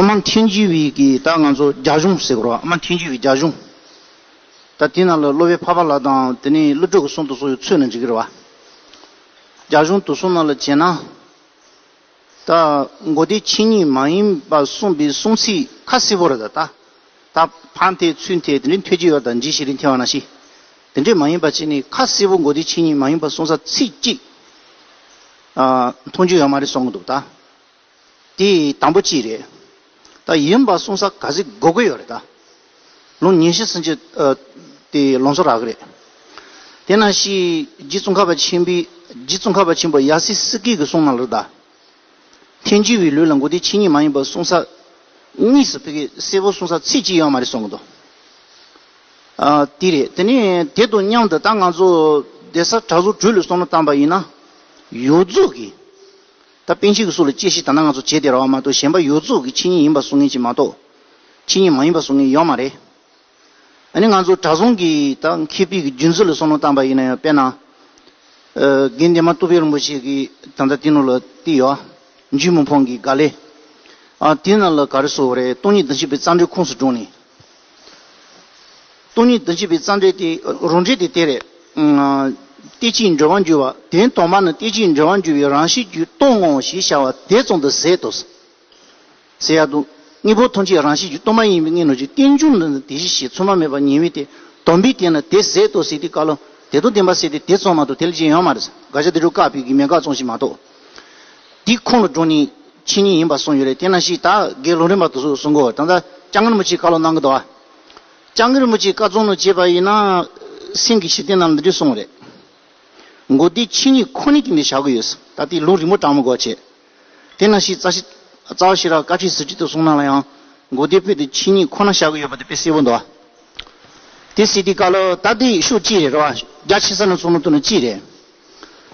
ཨ་མ་ཐན་ཅི་བི་གིས་ད་ང་ཚོ་རྒྱ་གཞུང་ཟེར་དགོས་ར་ཨ་མ་ཐན་ཅི་བི་རྒྱ་གཞུང། ད་དེ་ན་ལ་གློ་བའི་ཕ་པ་ལ་དང་དེ་ནས་གླུ་སྒྲོག་གི་གསུང་དུ་གསུང་ཡོད་ཚོད་ན་འཇིག་གི་རེད་བ། རྒྱ་གཞུང་དུ་གསུང་ན་ལ་བྱས་ན། ད་མགོ་བདེ་ཕྱི་གཉིས་མ་ཡིན་པ་གསུང་པའི་གསུང་ཚིག་ཁ་གསལ་བོ་རེད་ད། ད་ཕ་འཐད་ཚུལ་འཐད་དེ་འདྲའི་འཐད་ཀྱི་ཡོད་ད་འཇིགས་ཤིག་རིན་འཐད་བ་ན་ཤིག། དེ་འདྲའི་མ་ཡིན་པ་བྱས་ནས་ཁ་གསལ་བོ་མགོ་བདེ་ཕྱི་གཉིས་མ་ཡིན་པ་གསུང་ས་ཚིག་གཅིག། མཐོང་རྒྱུ་ཡོད་མ་རེད་གསུང་གི་འདུག་ད། དེ་དང་པོ་གཅིག་རེད་ད། ཡིན་པ་གསུང་ས་ག་ཟིག་གོ་གི་ཡོད་རེད་ད། ལོ་ཉེ་བཞི་ཟིན་རྗེས་དེ་ལོ་འཚོ་རག་གི་རེད། དེ་ན་ཤི་རྗེས་ཙོང་ཁ་པ་ཆེན་པོའི་རྗེས་ཙོང་ཁ་པ་ཆེན་པོ་ཡ་སི་སི་ཀི་གི་གསུང་གནང་ལོ་ད། ཐེན་ཅུ་བའི་ལུས་ལ་མགོ་དེ་ཕྱི་གཉིས་མ་ཡིན་པ་གསུང་ས་གཉིས་སུ་ཕེ་གི་སེ་བོ་གསུང་ས་ཚིག་གཅིག་ཡོད་མ་རེད་གསུང་གི་འདུག་དེ་རེད། དེ་ནས་དེ་དང་མཉམ་དུ་ད་ང་ཚོ་སྡེ་གསར་གྲགས་ཟུར་གྲོས་ལུགས་གསུང་གནང་བཏང་པ་ཡིན་ན་ཡོད་རྫོགས་གི། ད་དཔོན་ཆེན་གྱི་སྲོག་ལ་གཅེས་ཤིག་ད་ནང་ང་ཚོ་བྱེད་བདེ་ར་བ་མ་གཏོགས་གཞན་པ་ཡོད་ཚོགས་ཀྱི་ཆིངས་ཡིག་ཡིན་པ་བཟུང་ངེས་ཅིག་མ་གཏོགས། ཆིངས་ཡིག་མ་ཡིན་པ་བཟུང་ངེས་ཡོད་མ་རེད། ཨ་ནི་ང་ཚོ་གྲྭ་བཟང་གིས་ད་མཁས་པིག་གི་རྒྱུན་འཛིན་ལ་སོ་ནོ་བཏང་པ་ཡིན་ན་ཡང་དཔེར་ན། དགེ་འདས་མ་ཏོ་བྷེ་རིན་པོ་ཆེ་གི་ད་ལྟ་སྟེང་ནོར་ལ་ཏི་ཡོ། འཇུས་མོ་འཕོང་གི་ག་ལེ། ཨ་དེ་རྣམས་ལ་ག་རེ་བཟོ་བ་རེད་སྟོང་ཉིས་བདུན་བཞི་པའི་རྩ་འགྲེལ་ཁུངས་སུ་དྲུང་ནས། སྟོང་ཉིད་དུ་འཇིག་པའི་རྩ་འགྲེལ་ཏེ། རང་འགྲེལ་དེ་དེ་རེད། ལྟས་གཅིག་འབྲེལ་བར་འགྱུར་བ་དེ་དོགས་མ་ནི་ལྟས་གཅིག་འབྲེལ་བར་འགྱུར་བའི་རང་བཞིན་རྒྱུད་སྟོང་ངོ་ཞེས་བྱ་བ་དེ་ཙམ་དུ་ཟད་དོ། ཟད་ཡག་ཏུ། དངོས་པོ་ཐམས་ཅད་རང་བཞིན་རྒྱུད་སྟོང་མ་ཡིན་པའི་གནས་ནོར་གྱི་རྟེན་འབྱུང་ལ་ནི་དེ་བཞིན་གཤེགས་མཚུངས་མ་མེད་པར་ངེས་པས་དེ་དོམ་པའི་རྟེན་ལ་དེ་ཟད་དོ་ཟད་དེ་བཀག་ལ། དེ་དང་ལྡན་པ་ཟད་དེ་དེ་ཙམ་མ་གཏོགས་དེ་ལས་གཞན་ཡང་མ་རེད། དགག་བྱ་དེ་དྲུག་བཀག་པས་དགེ་མེད་དགག་བཅོམ་ཞིག་མ་གཏོགས། འདི་ཁོང་ལ་སྒྲུང་ནི་ཕྱི་ཉིན་ཡིན་པར་གསུངས་ཡོད་རེད་དེ་ན་ཞིག་ད་གེ་སློང་རིན་པ་དུ་སུ་གསུང་གོ་ད་ལྟ་ལྕང་རིན་པོ་ཆེའི་བཀའ་སློབ་གནང་གི་འདུག་ཨ། ལྕང་རིན་པོ་ཆེའི་བཀའ་བཙོང་ནོ་བྱས་པ་ཡིན་ན། སེམས་ཀྱི་ཞི་བདེ་རྣམས་འདི་འདྲས་སོང་བ་རེད། མགོ་བདེ་ཕྱི་ཉིན་ཁོ་ནི་ཀྱིས་འདི་བྱ་གི་ཡོད་ད་ལྟའི་ལུང་རིང་པོ་གྲང་མོ་གོ་བྱས། དེ་ན་ཞིག་རྩ་བ་ཤེས་རབ་བཀའ་ཁྲིའི་ཟིན་བྲིས་དུ་གསུང་གནང་ལ་ཡང་མགོ་བདེ་པོས་འདི་ཕྱི་ཉིན་ཁོ་ན་བྱ་གི་ཡོད་པ་འདི་དཔེ་གསལ་བོ་འདུག་ཨ། དེ་སྲིད་འདི་བཀའ་སློབ་ད་ལྟའི་ཤུགས་ཅི་རེད་རེད་བ་རྒྱ་ཆེ་ས་ནས་གསུང་ནོ་ཐུག་ནོ་ཅི་རེད།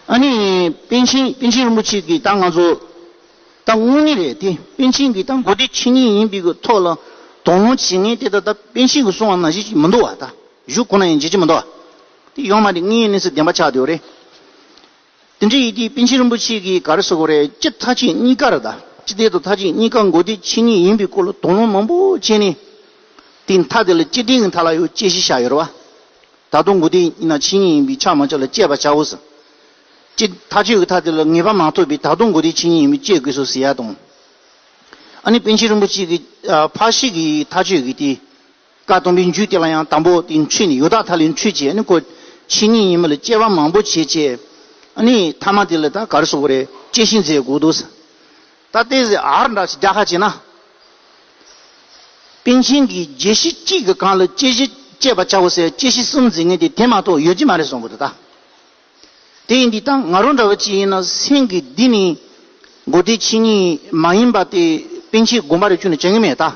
ཨ་ནི། པཎ་ཆེན་པན་ཆེན་རིན་པོ་ཆེ་གི་ཏང་ང་ཚོ་ཏང་དངོས་གནས་རེད་དེ་པན་ཆེན་གི་ཏང་གོ་དེ་ཆེ་ཉིད་ཡིན་པའི་གི་ཐོག་ལ་དོགས་སློང་བྱེད་ངེས་དེ་ད་ལྟ་པན་ཆེན་གི་གསུང་བ་ན་བཞེས་ཀྱི་མི་འདུག་བ་ད་བཞུགས་ཁོ་ན་ཡང་བརྗེད་ཀྱི་མི་འདུག་བ་དེ་ཡོང་མ་དེ་ངའི་གནས་ཚུལ་བདེན་པ་ཆགས་དེ་བ་རེད་དེ་འདྲ་ཡིན་དེ་པན་ཆེན་རིན་པོ་ཆེ་གི་ག་རེ་ཟེར་གོ་རེད་སྤྱི་མཐའ་ཆེད་གཉིས་ཀ་རེད་ད་སྤྱི་བདེ་དང་མཐའ་ཆེད་གཉིས་ཀ་གོ་དེ་ཆེ་ཉིད་ཡིན་པའི་སྐོར་ལ་དོགས་སློང་མང་པོ་བྱས་ནས་དེ་མཐའ་དེ་ལ་སྤྱི་བདེ་གི་མཐའ་ལ་ཡོད་དཔྱད་གཞི་བཞག་ཡོད་རེད་བ་ད་དུང་མགོ་དེ་ཡིན་ན་ཆིངས་ཡིག་ཡིན་པས་ཆགས་མ་ཆགས་ལ་དཔྱད་པར་བྱའོ་ཟེར། ཅི། ཐག་གཅོད་ཀྱི་ཐག་དེ་ལ་ངེས་པ་མ་ཐོབ་པས་ད་དུང་མགོ་དེ་ཆིངས་ཡིག་ཡིན་པས་དཔྱད་དགོས་སོ་ཟེར་ཡ་དང། ཨ་ནི་པཎ་ཆེན་རིན་པོ་ཆེ་གིས་ཕག་ཤི་གི་ཐག་གཅོད་ཀྱི་དེ། བཀའ་གཏམ་པའི་མཇུག་དེ་ལ་ཡང་དང་པོ་དེ་འཁྲུལ་ནས་ཡོ་ད་ཐ་ལའི་འཁྲུལ་བྱས་ཨ་ནི་ཁོ་ཆིངས་ཡིག་ཡིན་མིན་ལ་དཔྱད་པ་མང་པོ་བྱས་བྱས། ཨ་ནི་ཐ་མ་དེ་ལ་ད་གར་སོག་པོ་རེད་དཔྱད་གཞི་མཛད་དགོས་འདུག་ཟེར། ད་ལྟའི་ཟེར་ཨར་འདྲ་ཞིག་རྒྱག་ཁ་བྱས་ན། པིན་ཆིན་གྱིས་རྒྱལ་གཞི་གཅིག་གི་གང་ལ་དཔྱད་གཞི་དཔྱད་པ་བྱའོ་ཟེར་དཔྱད་གཞི་གསུམ་འཛིན་མཁན་དེ་དེ་མ་ཐོག་ཡོད་ཀྱི་མ་རེད་སོང་གི་འདུག་ད་དེ་ཡིན་དུས་ད་ང་རོ་འདྲ་བོ་ཅིག་ཡིན་ན་སེམས་ཀྱི་འདི་ནི་མགོ་བདེ་ཕྱི་གཉིས་མ་ཡིན་པ་དེ་པིན་ཆིན་དགོངས་པ་རེ་ཆུང་ནས་བྱ་གི་མེད་ད།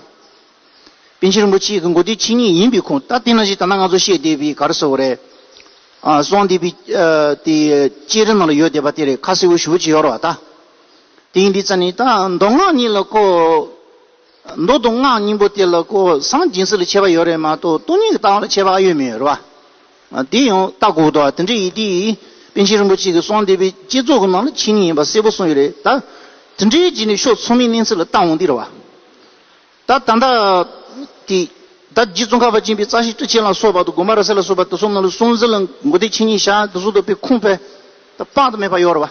པིན་ཆིན་རིན་པོ་ཆེ་གི་མགོ་བདེ་ཕྱི་གཉིས་ཡིན་པའི་ཁུངས་ད་དེ་ན་ཞིག་ད་ནང་ང་ཚོ་བཤད་བསྡད་པའི་ག་རེ་ཟེར་བ་རེད། སོང་བསྡད་པའི་དེ་དཔྱད་རིམ་ནང་ལ་ཡོད་བསྡད་པ་དེ་རེད་ཁ་གསལ་བོ་ཞུ་བོ་ཅིག་ཡོད་རེད་བ་ད། དེང་འདི་རྩ་ནི་དང་མདོ་སྔགས་གཉིས་ལ་གོ། མདོ་མདོ་སྔགས་སྙིང་པོ་དེ་ལ་གོ་སངས་སྦྱིན་སྲེག་ལ་ཆད་པ་ཡོད་རེད་མ་གཏོགས་སྟོང་ཉིད་ཀྱི་ལྟ་བ་ལ་ཆད་པ་ཨ་ཡོད་མི་ཡོད་རེད་བ། དེ་ཡང་ལྟ་དགོས་དོ་དེ་འདྲའི་ཡིད་དེ་ཡིས་པན་ཆེན་རིན་པོ་ཆེ་གི་གསང་སྡེ་པའི་བསྐྱེད་རྫོགས་ཀྱི་ནང་ལ་ཆེ་ཉིད་ཡིན་པ་གསལ་པོ་གསུངས་ཡོད་རེད་ད། དེ་འདྲའི་རྗེས་ནས་ཤོག་ཚོགས་མིའི་གནས་ཚུལ་ལ་ལྟ་འོང་འདི་རེད་བ། ད་ད་ལྟ་དེ་ད་རྗེ་བཙོན་ཁང་བ་ཅན་པའི་རྩ་ཤེ་ཀྲི་ཆེན་ལ་སོགས་པ་དང་དགོན་པ་ར་སེ་ལ་སོགས་པ་དེ་ཚོ་རྣམས་ལ་གསུང་ཟིན་ལ་མགོ་སྡེ་ཆེ་ཉིད་ཞག་དེ་ཚོ་འདུག་པའི་ཁུངས་ཕལ་དུ་དཔག་ཏུ་མེད་པ་ཡོད་རེད་བ།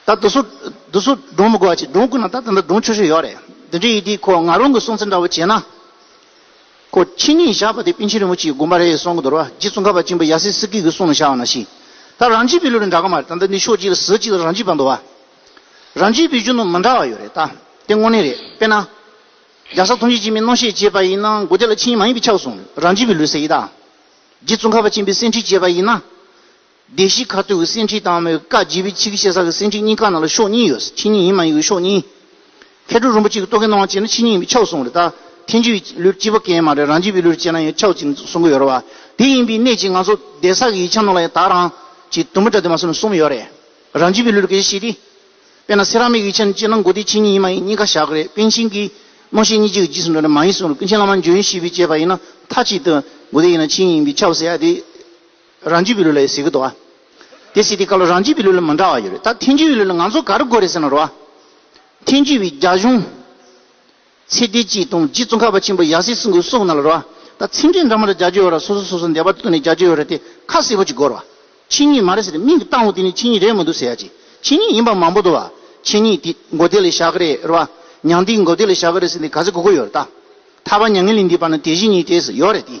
ད་དུ་སུ་དུ་སུ་སྒྲུང་མི་གོ་བ་ཅིག་སྒྲུང་བསྐུར་ན་ད་དེ་འདྲ་སྒྲུང་ཆུ་ཤོས་ཡོད་རེད་འདི་འདྲའི་ཡི་དེའི་ཁོ་ང་རང་གི་གསུང་ཚིག་འདྲ་བོ་བྱས་ན་ཁོ་ཕྱི་ཉིན་བཞག་པ་དེ་པིན་ཆེན་རིན་པོ་ཆེའི་དགོན་པ་རེད་གསུང་གི་འདུག་ར་རྗེ་ཙོང་ཁ་པ་གཅིག་པུ་ཡ་སི་སི་ཀི་གི་གསུང་ལ་བཞག་བ་ན་ཤི་ད་རང་རྒྱལ་བའི་ལུགས་རེད་འདྲ་གི་མ་རེད་ད་འདི་ནི་ཕྱོགས་གཅིག་ལ་ཟུར་གཅིག་ལ་རང་རྒྱལ་བ་འདུག་བ་རང་རྒྱལ་བའི་གཞུང་དུ་མི་འདྲ་བ་ཡོད་རེད་ད་དེ་དངོས་གནས་རེད་དཔེར་ན་རྒྱ་བཟའ་ཐུང་ཆེ་གཅིག་མའི་རྣོ་ཤས་བཅད་པ་ཡིན་ན་མགོ་དེ་ལ་ཕྱི་ཉིན་མ་ཡིན་པའི་ཕྱག་གསུང་རང་རྒྱལ་བའི་ལུགས་ཟེར་ཡིན་ད་རྗེ་ཙོང་ཁ་པ་གཅིག་པའི་སེང་ཁྲི་བཅད་པ་ཡིན་ན། སྡེ་བཞིའི་ཁ་ཐུག་གི་སེང་ཁྲིའི་སྟག་མོའི་བཀའ་བརྒྱུད་པའི་ཕྱི་གི་ཤེལ་ས་ཀྱི་སེང་ཁྲིའི་སྙིང་ཁ་ནང་ལ་ཤོག་གཉིས་ཡོད། ཕྱི་གཉིས་ཡིན་མ་ཡིན་གྱི་ཤོག་གཉིས། མཁས་གྲུབ་རིན་པོ་ཆེ་གིས་རྟོག་གེ་སྣང་བ་ཅན་ནི་ཕྱི་གཉིས་ཡིན་པའི་ཕྱོགས་གསུངས་རེད་ད། ཐེངས་བཅུ་བའི་ལུས་སྤྱི་པ་ཀན་མ་རེད་རང་རྒྱུད་པའི་ལུས་ཅན་ན་ཡང་ཕྱོགས་གཅིག་གསུང་གི་ཡོད་རེད་བ། དེ་ཡིན་པའི་གནད་ཀྱིས་ང་ཚོ་སྡེ་གསར་གྱི་ཡིག་ཆ་ནང་ལ་ཡང་དག་རང་གི་དུམ་བུ་འདྲ་དེ་མ་གསུངས་ནས་གསུམ་ཡོད་རེད། རང་རྒྱུད་པའི་ལུས་ལ་གལ་ཆེ་ཤེས་ཏེ། དཔེར་ན་སེ་ར་མིག་གི་ཡིག་ཆ་ནི་སྤྱིར་ན་མགོ་སྟེ་ཕྱི་གཉིས་ཡིན་མ་ཡིན་སྙིང་ཁ་བཞག་གི་རེད་པན་ཆེན་གྱིས་རྨང་གཞི་གཉིས་གཅིག་གི་རྗེས་སུ་འགྲོ་ནི་མ་ཡིན་གསུངས་རེད་ཀུན་མཁྱེན་བླ་མ་འཇོན་ཤེས་པས་དཔྱད་པ་ཡིན་ན་མཐའ་གཅིག་ཏུ་མགོ་སྟེ་ཡིན་ན་ཕྱི་གཉིས་ཡིན་པའི་ཁྱབ་བསལ་ཡ་དེ། རང་རྒྱུད་བི་ལུ་ལ་ཡོད་ཟེར་གི་འདུག་ཨ། དེ་སྲིད་དེ་ག་ལ་རང་རྒྱུད་བི་ལུ་ལ་མི་འདྲ་བ་ཡོད་རེད་ད་ཐེངས་རྒྱུད་བི་ལུ་ལ་ང་ཚོ་ག་རེ་དགོས་རེད་ཟེར་ན་རོ་ཨ། ཐེངས་རྒྱུད་བི་རྒྱ་གཞུང། ཚེ་བདེ་སྐྱིད་དང་རྗེ་བཙུན་ཁ་བ་ཆེན་པོ་ཡག་སྲིད་སྲིད་འགོ་གསུག་ན་ལ་རོ་ཨ། ད་ཚེ་འབྲས་འདྲ་མ་འདྲ་རྒྱ་རྒྱུད་ཡོད་ར་སོ་སོ་སོ་སོ་འདས་པ་བཏུལ་ནས་རྒྱ་རྒྱུད་ཡོད་ར་དེ་ཁ་གསལ་པོ་ཅིག་གོ་ར་བ། ཕྱི་ཉིད་མ་རེད་ཟེར་མིང་གི་སྟངས་བོ་དེ་ནི་ཕྱི་ཉིད་རེད་མི་འདུག་ཟེར་ཡ་ཅིག་ཕྱི་ཉིད་ཡིན་པ་མང་པོ་འདུག་བ། ཕྱི་ཉིད་དེ་མགོ་བདེ་ལས་བཞག་གི་རེད་ར་བ། མྱང་འདི་མགོ་བདེ་ལས་བཞག་གི་རེད་ཟེར་འདི་ག་ཚེ་གོ་གི་ཡོད་ར་ད། ཐར་བ་མྱ་ངན་ལས་འདས་པ་ནི་དེ་བཞིན་ཉིད་དེ་ཟེར་ཡོད་རེད་དེ།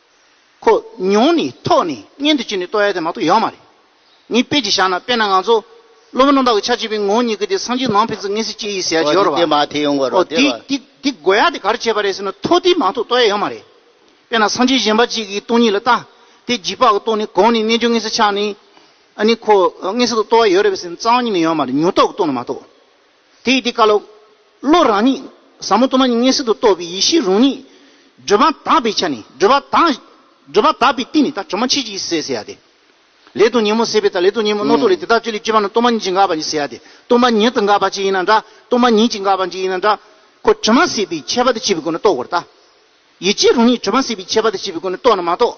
ཁོ་ཉུང་ནས་ཐོག་ནས་གཉེན་དུ་བྱས་ནས་ལྟོ་ཡ་དེ་མ་གཏོགས་ཡག་མ་རེད། ངས་དཔེ་གཅིག་བཞག་ན་དཔེར་ན་ང་ཚོ་སློབ་མ་རྣམ་དག་གི་ཆ་བྱས་པའི་ངོ་གཉིས་ཀྱི་དེ་སངས་རྒྱས་ནང་ཕན་ཚུན་ངན་སེམས་སྐྱེ་ཡི་ཟེར་ཡ་ཇི་ཡོད་རེད་བ། ཨོ་དེ་དེ་དགོས་ཡ་དེ་ག་རེ་བྱས་པ་རེད་ཟེར་ན་ཐོག་དེ་མ་གཏོགས་ལྟོ་ཡ་ཡག་མ་རེད། དཔེར་ན་སངས་རྒྱས་གཞན་པ་གཅིག་གིས་སྟོང་ཉིད་ལ་ལྟ་དེ་རྗིད་པགས་ཀྱི་ལྟོ་ནས་གོང་ནས་རྣལ་འབྱོར་ངན་སེམས་ཆགས་ནས་ཨ་ནི་ཁོ་ངན་སེམས་དང་ལྟོ་བ་ཡོད་རེད་བ་ཟེར་ན་གཙང་མ་ཉིད་ནས་ཡོད་མ་རེད་ཉུང་རྟོག་གི་ལྟོ་ན་མ་གཏོགས། དེ་ཡི་དེ་བཀའ་སློབ། བློ་རང་ཉིད། ཟབ་མོ་སྟོང་ན་ཉིད་ངེས་གསེར་དུ་རྟོགས་པའི་ཡེ་ཤེས་རང་ཉིད། བགྲོད་པ་དག་པའི་ཆ་ནས་བགྲོད་པ་དག། བགྲོད་པ་དག་པའི་སྟེང་ནས་ད་གྲོ་མ་མཆེད་ཅིག་ཟེར་ཟེར་ཡ་སྟེ། ལས་དང་ཉིན་མོ་ཟེར་བའི་ད་ལས་དང་ཉིན་མོ་རྣོ་རྟོག་ལས་དེ་དག་བཅུ་ལས་སྤྱི་བ་ན་སྟོང་པ་ཉིད་ཅིག་འགགས་པ་ཉིད་ཟེར་ཡ་སྟེ་སྟོང་པ་ཉིད་དུ་འགགས་པ་ཅིག་ཡིན་ན་འདྲ་སྟོང་པ་ཉིད་ཅིག་འགགས་པ་ཅིག་ཡིན་ན་འདྲ། ཁོ་དྲི་མ་ཟད་པའི་ཁྱད་པར་དུ་བྱས་པའི་སྒོ་ནས་རྟོགས་དགོས་ར་ལྟ། ཡིད་ཆེས་རང་ཉིད་དྲི་མ་ཟད་པའི་ཁྱད་པར་དུ་བྱས་པའི་སྒོ་ནས་རྟོགས་ན་མ་གཏོགས།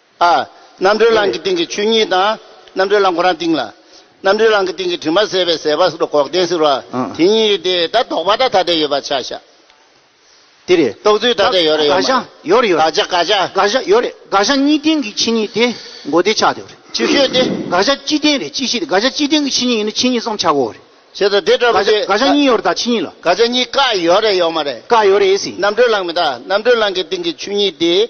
ཨ། རྣམ་གྲོལ་རླངས་ཀྱི་སྟེང་གི་ཆོས་ཉིད་དང། རྣམ་གྲོལ་རླངས་ཁོ་རང་སྟེང་ལ། རྣམ་གྲོལ་རླངས་ཀྱི་སྟེང་གི་དྲི་མ་བསལ་བའི་ཟད་པ་སོགས་གོག་ལྡན་ཟེར་བ། དེ་གཉིས་ཡོད་དེ། ད་དོགས་པ་ཐ་དད་ཡོད་པ་ཆ་བཞག། དེ་རེད། རྟོགས་ཚུལ་ཐ་དད་ཡོད་རེད་ཡོད་མ་རེད། དགག་བྱ་ཡོད་རེད་ཡོད་རེད། དགག་བྱ་དགག་བྱ། དགག་བྱ་ཡོད་རེད་དགག་བྱ་གཉིས་སྟེང་གི་ཕྱི་ཉིད་དེ་མགོ་བདེ་ཆགས་དེ་བ་རེད། ཅིག་ཤོས་དེ། དགག་བྱ་སྤྱི་སྟེང་རེད་སྤྱི་གཤིས་དེ་དགག་བྱ་སྤྱི་སྟེང་གི་ཕྱི་ཉིད་ཡིན་ན་ཕྱི་ཉིད་སམ་ཆ་གོ་བ་རེད། བྱས་ཙང་དེ་འདྲ་མི་དགག་བྱ་དགག་བྱ་གཉིས་ཡོད་རེད་ད་ཕྱི་ཉིད་ལ། དགག་བྱ་གཉིས་ཀ་ཡོད་རེད་ཡོད་མ་རེད། ཀ་ཡོད་རེད། རྣམ་གྲོལ་རླངས་མི་དགག་རྣམ་གྲོལ་རླངས་ཀྱི་སྟེང་གི་ཆོས་ཉིད་དེ།